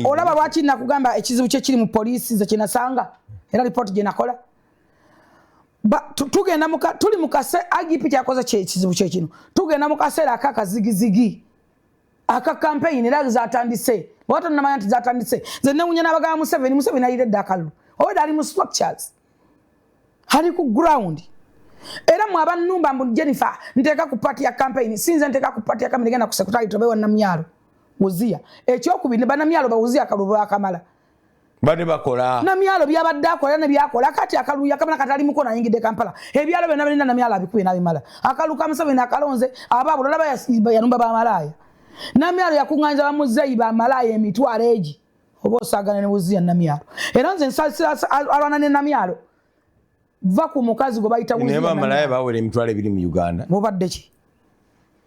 olaba lwaki nakugamba ekizibu kye kiri mu poliisi nze kyenasanga era lipooti gye nakola tugenda tuli mukase igp kyakoze kyekizibu kyekino tugenda mu kaseera aka kazigizigi aka kampeyini era zatandise oba tonamanya nti zatandise nze newunya nabagaba museveni museveni ayire edda akalulu oba daali mu structures hali ku ground era mwe abanumba mbu jennifer nteeka ku paati ya kampeyini sinze nteeka ku paati ya kampeyini genda ku sekutali tobe wa namyalo wuziya ekyokubiri ne banamyalo bawuziya akalulu bakamala bade bakola namyalo byabadde akola ne byakola kati akalulu yakamala kati ali mukono ayingidde kampala ebyalo byonna birina namyalo abikuye nabimala akalulu ka museveni akalonze abaabo lolaba yanumba bamalaaya namyalo yakuŋŋanyiza bamuzeeyi bamalaaya emitwalo egi oba osagana ne buziya namyalo era nze nsasira alwana ne namyalo va ku mukazi gwe bayita buziya neba malaya bawere emitwalo ebiri mu uganda mubadde ki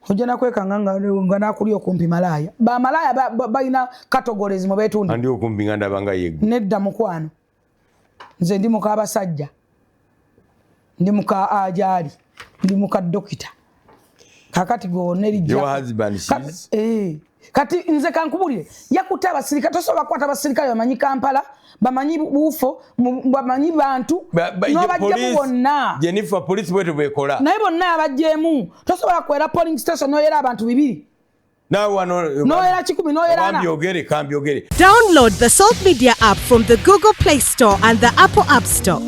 ojja nakwekanga nga nakuli okumpi malaya bamalaya balina categories mu betunda andi okumpi nga ndabanga yegwe nedda mukwano nze ndi muka basajja ndi muka ajali ndi muka dokita kakati gonelijja eh, kati nze kankubulire yakuta abasirikale tosobola kukwata abasirikale bamanyi kampala bamanyi bufo bamanyi bantu nobajjemu bonna jenifa polisi bwetu bwekola naye bonna abajjemu tosobola kwera polling station noyera abantu bibiri Now one no era kikumi no era na kambyogere kambyogere Download the Salt Media app from the Google Play Store and the Apple App Store